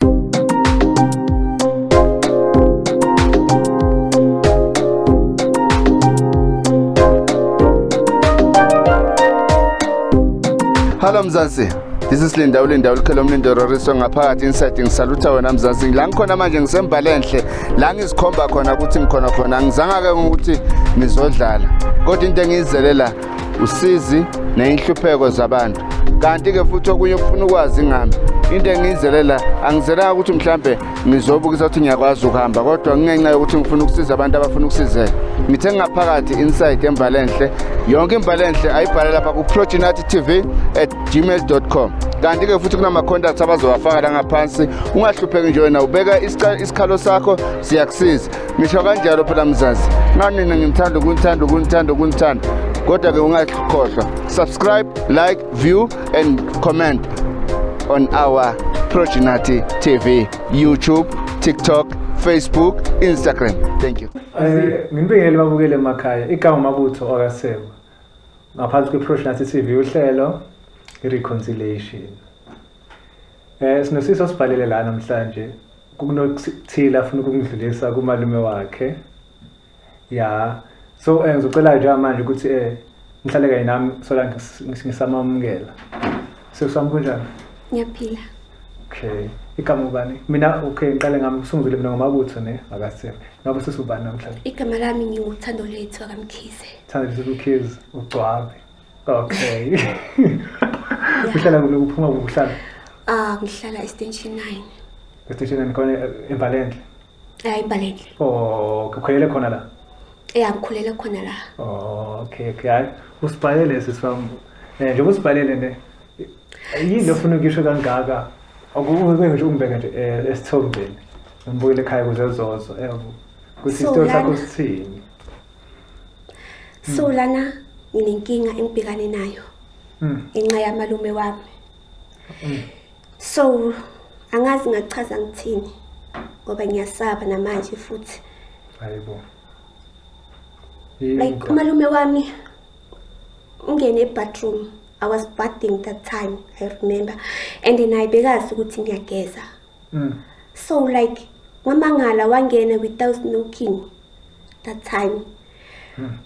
Hello Mzansi. This is Linda uLinda ulikhelo umlindo Roriso ngaphakathi inside ngisalutha wena Mzansi. Ngila ngikhona manje ngisembhale enhle. La ngizikhomba khona ukuthi ngikhona khona. Ngizanga ke ukuthi ngizodlala. Kodwa into engiyizele la usizi neyinhlupheko zabantu kanti-ke futhi okunye okufuna ukwazi ngami into engiyizele la angizelanga ukuthi mhlambe ngizobukisa ukuthi ngiyakwazi ukuhamba kodwa kungenxa yokuthi ngifuna ukusiza abantu abafuna ukusizeka ngithe ngaphakathi inside embalenhle yonke imbalenhle ayibhale lapha kuprojinati tv at gmail com kanti-ke futhi kunama-contacts abazowafaka la ngaphansi ungahlupheki nje wena ubeka isikhalo sakho siyakusiza ngisho kanjalo phela mzazi nanina ngimthanda ukunithanda ukunithanda ukunithanda kodwa-ke ungakhohlwa subscribe like view and comment on our progenati tv youtube tiktok facebook instagram thank you ngimbingele babukele emakhaya igama mabutho okasekwa ngaphansi kwe-progenati tv uhlelo i-reconciliation um sinosiso sibhalele la namhlanje kunokuthile afuna ukungidlulisa kumalume wakhe ya so um ngizocela njengamanje ukuthi um ngihlale kanye nami sola ngisamamukela sekusami kunjani ngiyaphila okay igama ubani mina okay ngiqale ngami kusunguzile mina ngomabutho ne akasebe ngabe sesubani namhlanje igama lami ngiwuthando lethu akamkhize thando lethu ukhize ugcwabe Okay. Uhlala kulo kuphuma kuhlala. Ah, ngihlala eStation 9. EStation 9 khona eMbalendle. Eh, eMbalendle. Oh, kukhulele khona la. Yeah, ngikhulele khona la. Oh, okay, okay. Hayi, usibhalele sisifam. Eh, njengoba usibhalele ne. Yini ofuna ukisho kangaka? Akube nje umbeke nje eh, esithombeni. Ngibuyele ekhaya kuze zozo. Eh, ukuthi isitori sakho sithini? so hmm. lana nginenkinga engibhekane nayo hmm. ngenxa yamalume wami hmm. so angazi ngachaza ngithini ngoba ngiyasaba namanje futhi hayibo like umalume wami ungene ebathroom i was bathing that time i remember and naye bekazi ukuthi ngiyageza mm. so like wamangala wangena without knocking that time mm.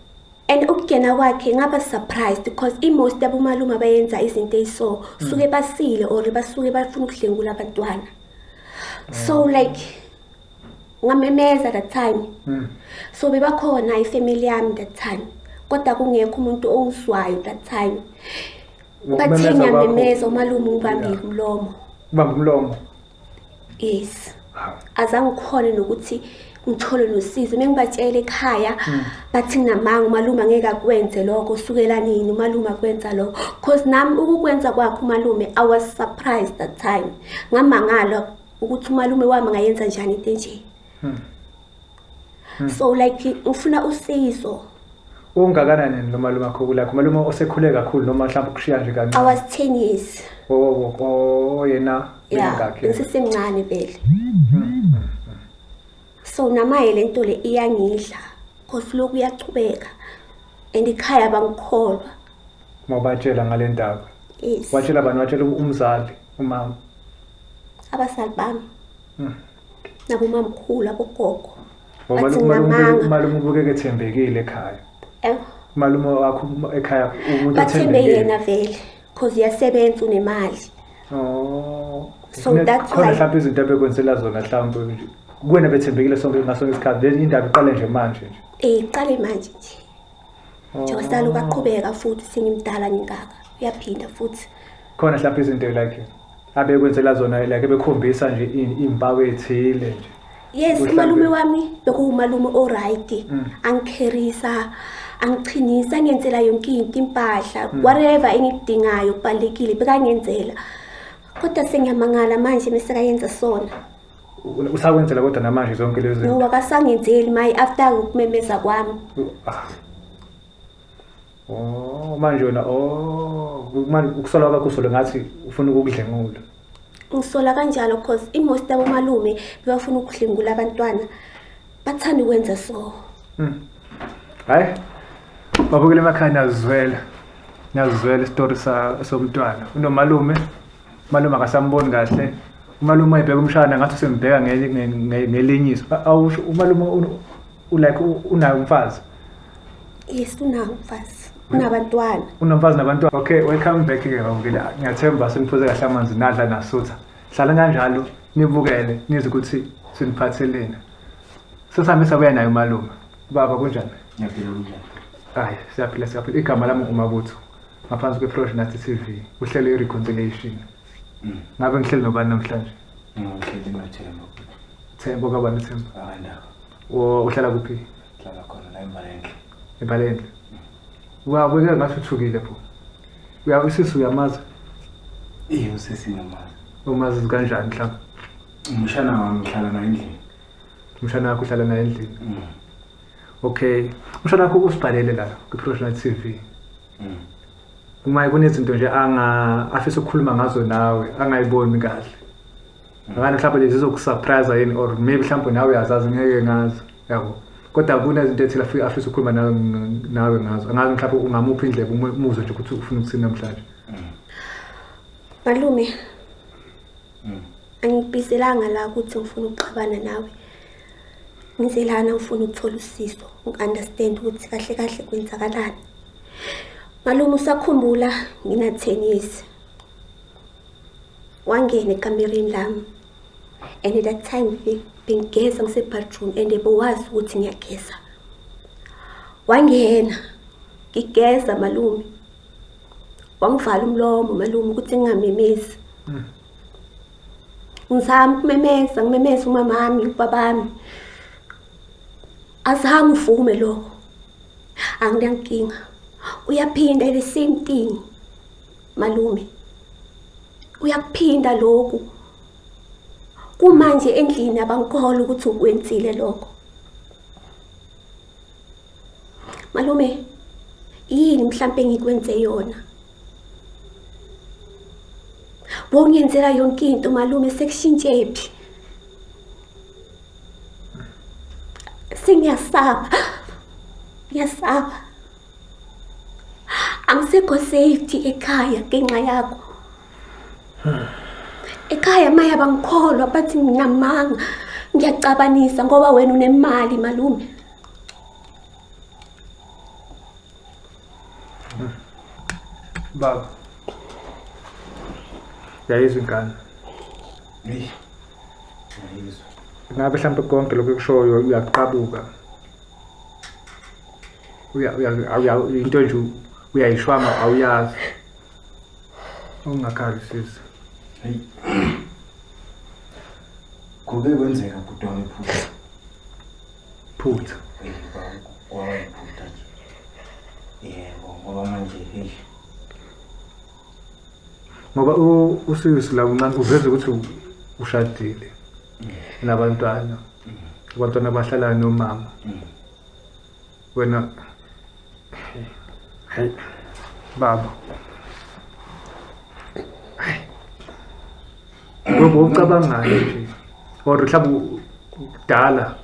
and ukugena kwakhe ngaba surprised because imost yabomalume abayenza izinto eyiso mm. suke basile or basuke bafuna ukudlengula abantwana mm. so hmm. like ngamemeza that time mm. so bebakhona ifamily yami that time kodwa kungekho umuntu ongiswayo that time bathe ngiyamemeza umalume ubambe umlomo ubambe umlomo yes azange ukhone nokuthi ngithole nosizo uma ngibatshela ekhaya hmm. bathi nginamanga umalume angeke akwenze lokho usukela nini umalume akwenza lokho because nami ukukwenza kwakhe umalume i was surprised that time ngamangala ukuthi umalume wami ngayenza njani into enje hmm. so like ufuna usizo ungakanani yena noma luma khokho lakho malume osekhule kakhulu noma mhlawumbe ukushiya nje i kancane was 10 years oh, oh, oh, oh, yena ya mingakhe ngisesemncane vele so namaye le nto le iyangidla cause lokhu uyachubeka and ikhaya bangikholwa mawubatshela ngale ndaba yes watshela bani watshela umzali umama abasali bami nakumamkhulu abogogo malume ubukeke ethembekile ekhaya eh. malume wakho ekhaya umuntu bathembe yena vele cause uyasebenza unemali oh. so that's why mhlawumbe izinto abekwenzela zona mhlawumbe kuwena bethembekile sonke ngaso ngesikhathi le indaba iqale nje manje nje eh iqale manje nje njengoba sala ukaqhubeka futhi sengimdala ngingaka uyaphinda futhi khona mhlawumbe izinto like abekwenzela zona like bekhombisa nje impawu ethile nje yes umalume wami bekuwumalume oright mm. angikherisa angichinisa ngenzela yonke into impahla mm. whatever engikudingayo kubalekile bekangenzela kodwa sengiyamangala manje mesekayenza sona usakwenzela kodwa namanje zonke lezi zinto wakasangenzeli mayi after ukumemeza kwami ah. oh manje wena oh manje ukusola kwakho usolo ngathi ufuna ukukudlengula ngisola kanjalo because imost abomalume bebafuna ukudlengula abantwana bathanda ukwenza so hmm. hayi babukele emakhaya nazizwela nazizwela isitori somntwana unomalume Umalume akasamboni kahle. Umalume ebheka umshana ngathi usembheka ngeli- nge- nge- ngelinyiso. A- Awusho umalume u- u- like u- unayo umfazi. yes unawo umfazi unabantwana Unomfazi nabantwana. Okay, welcome back ke baba ngile. Ngiyathemba seniphuze kahle amanzi nadla nasutha. Hlala kanjalo nibukele nizwe ukuthi siniphatheleni. Sesihambe sabuya naye umalume. Baba kunjani? Ngiyaphila kunjani? Hayi, siyaphila siyaphila. Igama lami uMabutho. ngaphansi kwe-frosh nasty t v uhlele i-reconciliation mm. ngabe ngihleli nobani namhlanje ngihleli nothemba themba kabani themba akandawo uhlala kuphi hlala khona la embalendle embalendle uyabukeka mm. ngathi uthukile pho uyabe usisi uyamazi iye usisi ngiyamazi umazi kanjani mhlawumbe umshana wami uhlala naye endlini umshana wakho uhlala naye endlini mm. Okay. Usho nakho ukusibhalele la kwi-Professional TV. Mm. Uma kunezinto nje anga afisa ukukhuluma ngazo nawe angayiboni kahle. Mm. Ngani mhlawumbe lezi zokusurprise yini or maybe mhlawumbe nawe uyazazi ngeke ngazi. Yabo. Kodwa kunezinto ethile afisa ukukhuluma nawe nawe ngazo. Angazi mhlawumbe ungamuphi indlebe umuzwe nje ukuthi ufuna ukuthini namhlanje. Mm. Malume mm. angibizelanga la ukuthi ngifuna ukuxabana nawe ngize lana ngifuna ukuthola usizo ngi-understand ukuthi kahle kahle kwenzakalani malume usakhumbula ngina-ten years wangena ekamereni lami and at that time bengigeza ngisebadroom and bowazi ukuthi ngiyageza wangena ngigeza malume wangivala umlomo malume ukuthi ngingamemezi hmm. ngizama ukumemeza ngimemeza umamami ubabami azange uvume lokho anginankinga uyaphinda the same thing malume uyakuphinda lokhu kumanje endlini abangikholwa ukuthi ukwenzile lokho Malume, yini mhlampe ngikwenze yona? Bongenzela yonke into malume sekushintshe phi? Sengiyasaba. Ngiyasaba. Angisekho safety ekhaya ngenxa yakho. Ekhaya maya bangikholwa bathi nginamanga. Ngiyacabanisa ngoba wena unemali malume. Baba. Yayizwa ingane. Eyi. Ngiyizwa. Ngabe mhlawumbe konke lokhu ekushoyo uyakuqabuka. Uya uya awuya- into nje uyayishwama awuyazi. Ungakhali sisi. Eyi. Kube kwenzeka bhuti wami phupha. Phutha. Kwayiphutha nje. Yebo, ngoba manje hey. Ngoba usisi la uncane uveza ukuthi ushadile nabantwana. Abantwana bahlala nomama. Wena Hey. Baba. Ngoba ucabangayo nje. Or mhlawumbe kudala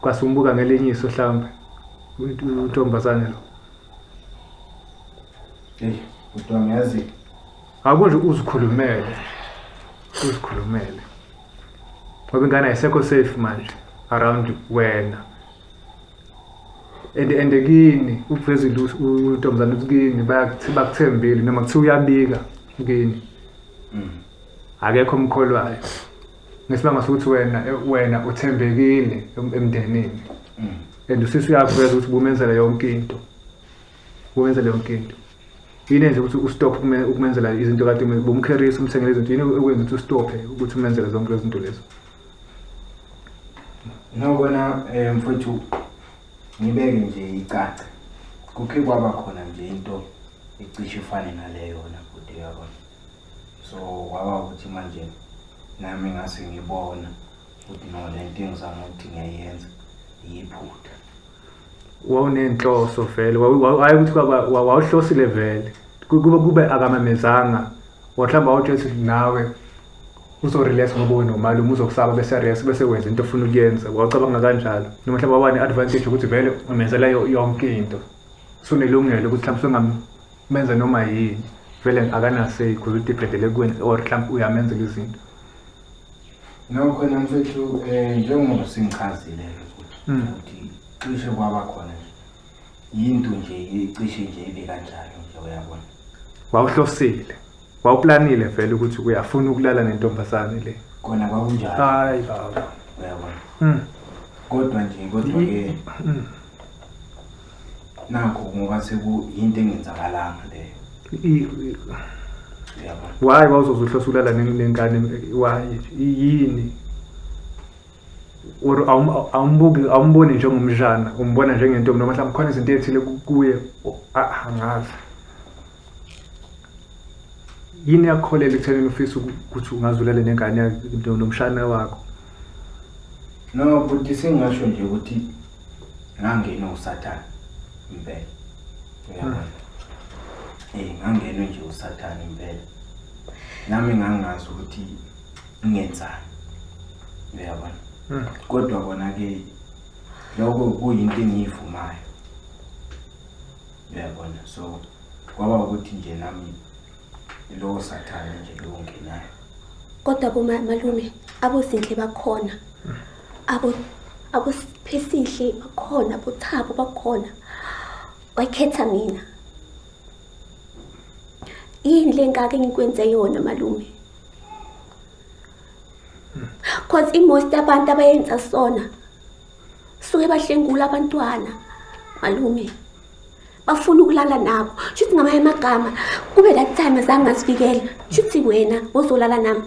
kwasumbuka ngelinye iso mhlawumbe untombazane lo. Hey, kodwa ngiyazi Akunje uzikhulumele. Uzikhulumele. Ngoba ingane ayisekho safe manje around wena. and and kini ukuvezile untombazane ukuthi kini bayakuthi bakuthembile noma kuthiwa uyabika kini mm. akekho omkholwayo ngesibanga sokuthi wena wena uthembekile emndenini mm. and usisi uyakuveza ukuthi bumenzela yonke into bumenzela yonke into yini nje ukuthi ustop ukumenzela izinto kade bumkherisa umthengele izinto yini okwenza ukuthi ustophe ukuthi umenzele zonke lezi zinto lezo Nokona eh mfowethu ngibeke nje icaca. Kukhe kwaba khona nje into ecishe ifane naleyo na bhuti yabona. So kwaba ukuthi manje nami ngase ngibona ukuthi no lento engizama ukuthi ngiyayenza iyiphutha. wawunenhloso vele waye ukuthi wawuhlosile vele kube kube akamamezanga wahlamba wawutshela ukuthi nawe uzorelax ngoba unomalume uzokusaba bese rest bese wenza into ofuna ukuyenza wawucabanga kanjalo noma mhlawumbe waba ne-advantage ukuthi vele umenzela yonke into sunelungelo ukuthi mhlawumbe sungamenza noma yini vele akanasey because udibhedele kweni or mhlawumbe uyamenzela izinto Nokho na mfethu um njengoba singichazile ukuthi hmm. ukuthi cishe kwaba khona nje yinto nje icishe nje ibe kanjalo nje uyabona wawuhlosile wawuplanile vele ukuthi uyafuna ukulala nentombazane le kona kwakunjalo hayi baba uyabona hmm. kodwa nje kodwa-ke hmm. nakho ngoba sekuyinto engenzakalanga leyo why wawuzoze uhlosulala nenkani why yini or awumbuki awumboni njengomdlana umbona njengentombi noma mhlawumbe khona izinto ey'thile kuye angazi yini yakukholela ekuthenini ufisa ukuthi ungazulele nengane nomshana wakho no bhuti sengingasho nje ukuthi ngangenwe usathane impela uyabona um eh, ngangenwe nje usathane impela nami ngangazi ukuthi ngenzani uyabona hmm. kodwa kona-ke lokho kuyinto engiyivumayo uyabona so kwaba ukuthi nje nami lowo sathane nje lowo ngenayo kodwa bomalume abozinhle bakhona abo abophesihle bakhona bothabo bakhona wakhetha mina yini le ngaka engikwenze yona malume cause imost abantu abayenza sona suke bahlengula abantwana malume bafuna ukulala nabo shuthi ngamanye amagama kube that time azange ngasifikela shuthi wena wozolala nami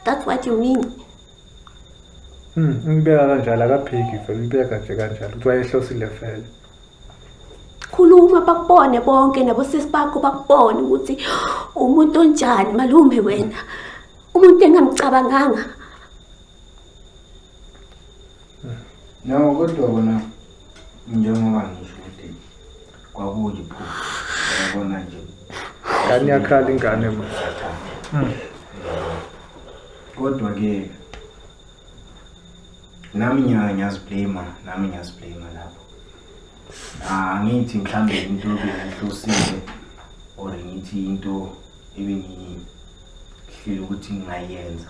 that's what you mean Hmm, umbeka kanjalo akaphiki vele umbeka nje kanjalo ukuthi wayehlosile vele. Khuluma bakubone bonke nabosisi bakho bakubone ukuthi umuntu onjani malume wena. Umuntu engamcabanganga No kodwa kona njengoba ngisho ukuthi kwakuyiphupho yabona nje ngane yakhala ingane ma hmm. kodwa ke nami nyaka ngiyaziblema nami ngiyaziblema lapho angithi ah, mhlawumbe into ebengihlosile or ngithi into ebengihlele ukuthi ngingayenza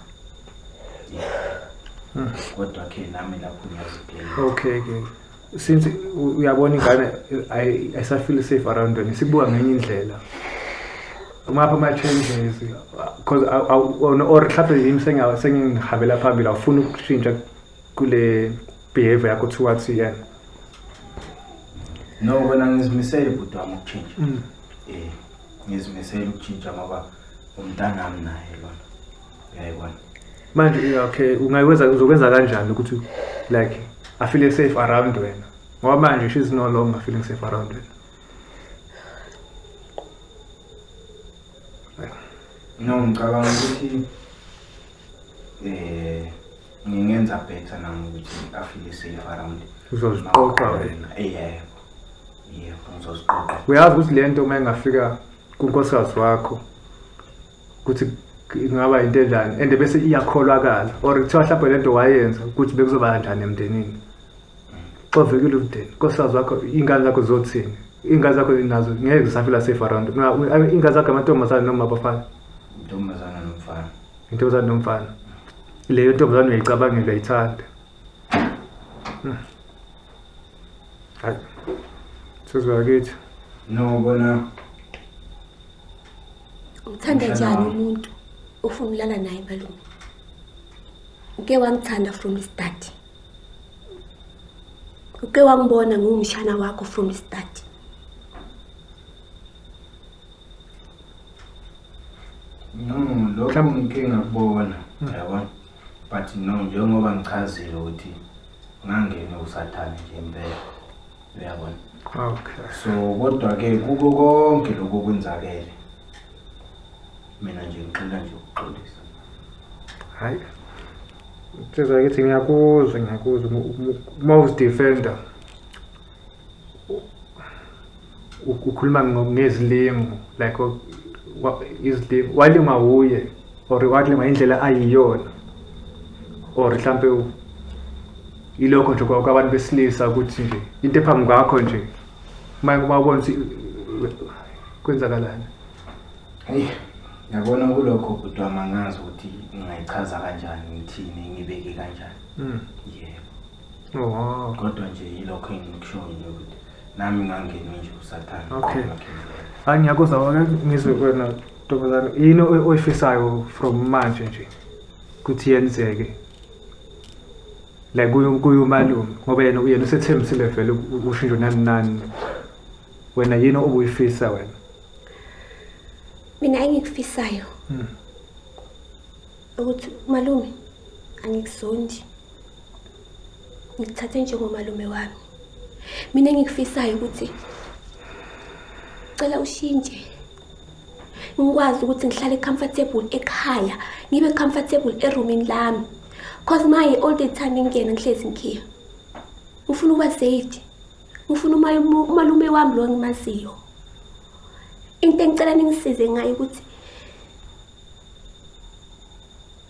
hmm. kodwa ke nami lapho ngiyazibheka okay ke since uyabona ingane ayisafeel safe around wena sibuka ngenye indlela umapha ama-changes because or mhlawumbe yimi sengihambela phambili awufuni ukushintsha kule behavior yakho towards yena no kona ngizimisele bhuti wami ukushintsha um ngizimisele ukutshintsha ngoba umntanami naye lona uyayibona manje okay ungayikwenza uzokwenza kanjani ukuthi like i feel safe around wena ngoba manje she's no longer feeling safe around wena no ngicabanga ukuthi eh ngingenza better nami ukuthi afike safe around uzoziqoqa wena yebo yebo ngizoziqoqa uyazi ukuthi le nto uma ingafika kunkosikazi wakho ukuthi ingaba yinto enjani and bese iyakholakala or kuthiwa mhlawumbe le nto wayenza ukuthi bekuzoba kanjani emndenini xovekile umndeni nkosikazi wakho iy'ngane zakho zothini iy'ngane zakho nazo ngeke zisafila safe around iy'ngane zakho amantombazane noma abafana intombazane nomfana intombazane nomfana leyo ntombazane uyayicabangela uyayithanda hmm. hayi sezwakithi no bona uthanda njani umuntu ufuna ulala naye malume uke wangithanda from start uke wangibona ngumshana wakho from start No, lokho ngike ngakubona yabona but no njengoba ngichazile ukuthi ngangene usathane nje impela uyabona okay so kodwa-ke kuko konke lokhu okwenzakele mina nje ngixola nje ukuxolisa hayi nsizwa kithi ngiyakuzwa ngiyakuzwa uma uzidefenda ukhuluma ngezilimo like izilimo walingwa wuye or walingwa indlela ayiyona or mhlampe ilokho nje kwabantu besilisa ukuthi nje into ephambi kwakho nje uma ubona ukuthi kwenzakalani heyi yabona kulokho bhuti wami angazi ukuthi ngingayichaza kanjani ngithini ngibeke kanjani hmm. yebo kodwa nje yilokho engikushoyo nje ukuthi nami ngangenwe nje usathane Okay. hayi ngiyakuza wake ngizwe kwena ntombazane yini oy- oyifisayo from manje nje ukuthi yenzeke like kuyo- kuyo umalume ngoba yena yena usethembisile vele u- u- ushintsho nani nani wena yini obuyifisa wena mina engikufisayo Mm. ukuthi malume angikuzondi ngikuthathe njengomalume wami mina engikufisayo ukuthi cela ushintshe ngikwazi ukuthi ngihlale comfortable ekhaya ngibe comfortable eroomini lami cause maye all the time ngingena ngihlezi ngikhiya ngifuna ukuba safe ngifuna umalume wami lo engimaziyo into engicela ningisize ngayo ukuthi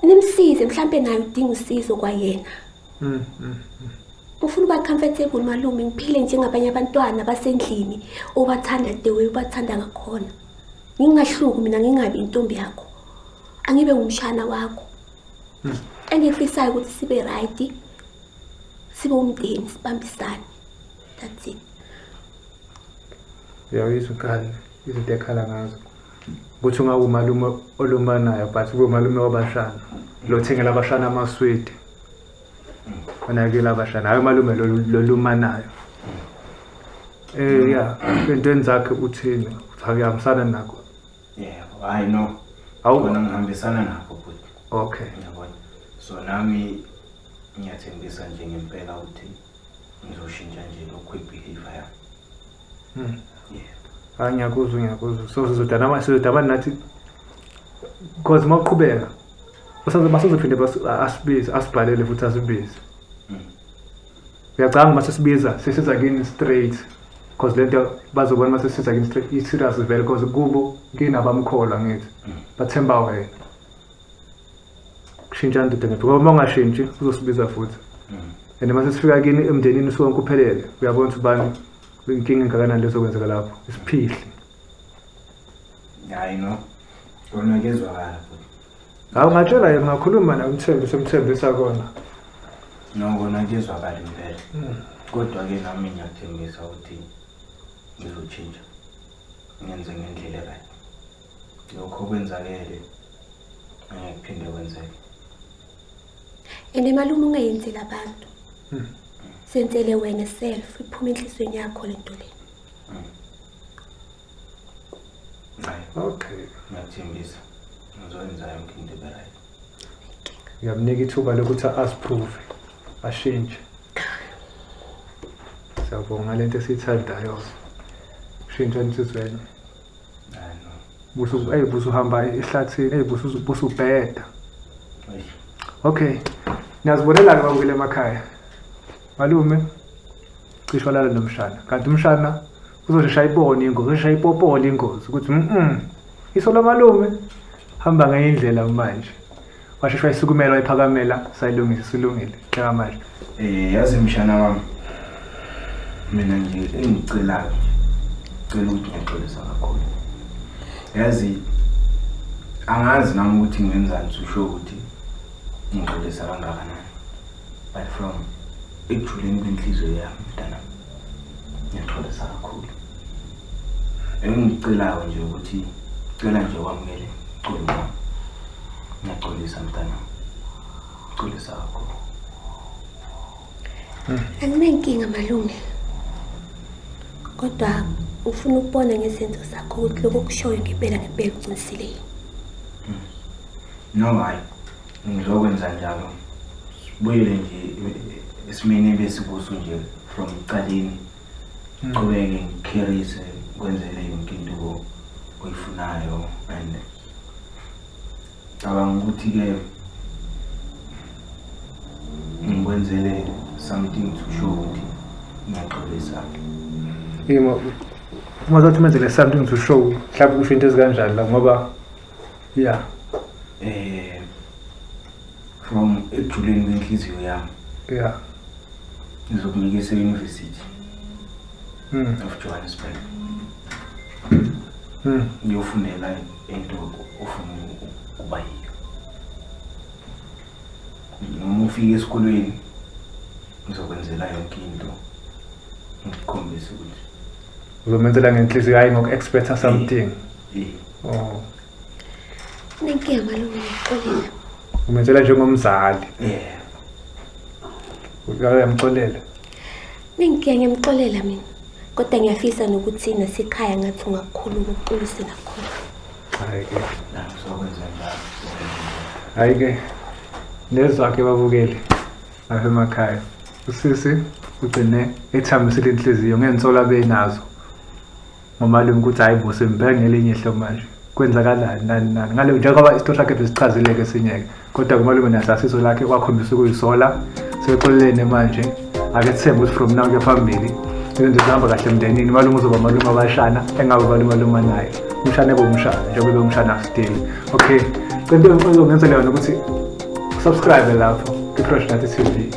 nimsize mhlampe naye udinga usizo kwayena mm, mm, mm. ufuna uba comfortable malume ngiphile njengabanye abantwana basendlini obathanda the way ubathanda ngakhona ngingahluki mina ngingabi intombi yakho angibe ngumshana wakho hmm. engikufisayo ukuthi sibe right sibe umndeni sibambisane that's it uyawizwa ukhala izinto ekhala ngazo ukuthi ungawumalume olumbanayo but kube umalume wabashana lo thengela abashana amaswidi onakela abashana hayi umalume lolumanayo eh ya entweni zakhe uthini uthi akuyahambisana nakho yebo hayi no awukona ngihambisana nakho futhi okay ngiyabona so nami ngiyathembisa nje ngempela ukuthi ngizoshintsha nje lokhu ibelief yami Hmm. Hayi ah, ngiyakuzwa ngiyakuzwa. So sizodana manje sizodabana nathi because uma uqhubeka basazophinde asibize asibhalele futhi asibize. Hmm. Ngiyacabanga uma sesibiza sesiza kini straight because lento bazobona uma sesiza kini straight i-serious vele because kubo kinabamkholwa ngithi hmm. bathemba wena. shintshani ndoda ngaphi ngoba uma ungashintshi uzosibiza futhi mm. and uma sesifika kini emndenini sonke uphelele uyabona ukuthi ubani inkinga engakanani lezokwenzeka lapho isiphihli hayi no kona kezwakala futhi hawu ngatshela yena ngakhuluma naye umthembi semthembisa kona no kona kezwakala impela mm. kodwa-ke nami ngiyathembisa ukuthi ngizotshintsha ngenze ngendlela right Lokho kwenzakele ngeke kuphinde kwenzeke. And malume ungayenzeli abantu. Hmm. Senzele wena self iphuma enhlizweni yakho le nto le. Hmm. Hayi, okay. Ngiyathembisa. Ngizokwenza yonke into ebe right. Ngiyamnika ithuba lokuthi asiprove, ashintshe. Siyabonga lento esiyithandayo. Shintsha insizweni. busu hey busu hamba ehlathini hey busu busu bheda okay niyazibonela ke babukele emakhaya malume cisho lala nomshana kanti umshana uzoshesha ibone ingozi uzoshesha ipopole ingozi ukuthi mm iso lamalume hamba ngenye indlela manje washeshwa isukumela wayiphakamela sayilungisa isilungile cela manje eh yazi mshana wami mina nje engicelayo cela ukuthi ngiyaxolisa kakhulu yazi angazi nami ukuthi ngenzani usho ukuthi ngixolisa kangakanani but from ekujuleni kwenhliziyo yami mntanami Ngiyaxolisa kakhulu. Engicelayo nje ukuthi cela nje wamukele cula wami. Ngiyaxolisa mntana. Xolisa kakhulu. Anginenkinga malume. Kodwa ufuna ukubona ngezenzo zakho ukuthi lokho kushoyo ngempela ngempela uqinisile. No hayi. Ngizokwenza njalo. Sibuyele nje esimeni ebesikuso nje from ekuqaleni. Ngiqhubeke ngikherise kwenzele yonke into oyifunayo and cabanga ukuthi ke ngikwenzele something to show ukuthi ngiyaxolisa. Yebo. Uma zothi menzele something to show, mhlawumbe kusho into ezikanjani la ngoba Yeah. Eh from ekujuleni kwenhliziyo yami. Yeah. Ngizokunika ese university. Mm. Of Johannesburg. Mm. Ngiyofundela into ofuna ukuba yiyo. Noma ufike esikolweni ngizokwenzela yonke into. Ngikukhombisa ukuthi uzomenzela ngenhliziyo hayi ngoku-expecta something yeah. Yeah. Oh. Nenkinga malume ngixolela. Umenzela njengomzali. Yeah. Uyamxolela. Nenkinga ngimxolela mina. Kodwa ngiyafisa nokuthi nasikhaya ngathi ungakhulu ukuqinisa nakhona. Hayi ke. Nakuzokwenza njalo. Hayi ke. Nezakhe babukeli. Lapha emakhaya. Usisi ugcine ethambisile inhliziyo ngensolo abenazo. ngomalume ukuthi hayi bo sembheka ngelinye ihlo manje kwenzakalani nani nani ngale njengoba isito sakhe besichazile-ke esinye-ke kodwa kumalume nahlasiso lakhe kwakhombisa ukuyisola sebeqolelene manje ake sithembe ukuthi from now kuyaphambili izinto zihamba kahle emndenini umalume uzoba malume abashana engabe umalumaluma naye umshana ebe umshana njengoba ebe umshana still okay cento engicela ngenzela yona ukuthi subscribe lapho kwi-fresh nathi tv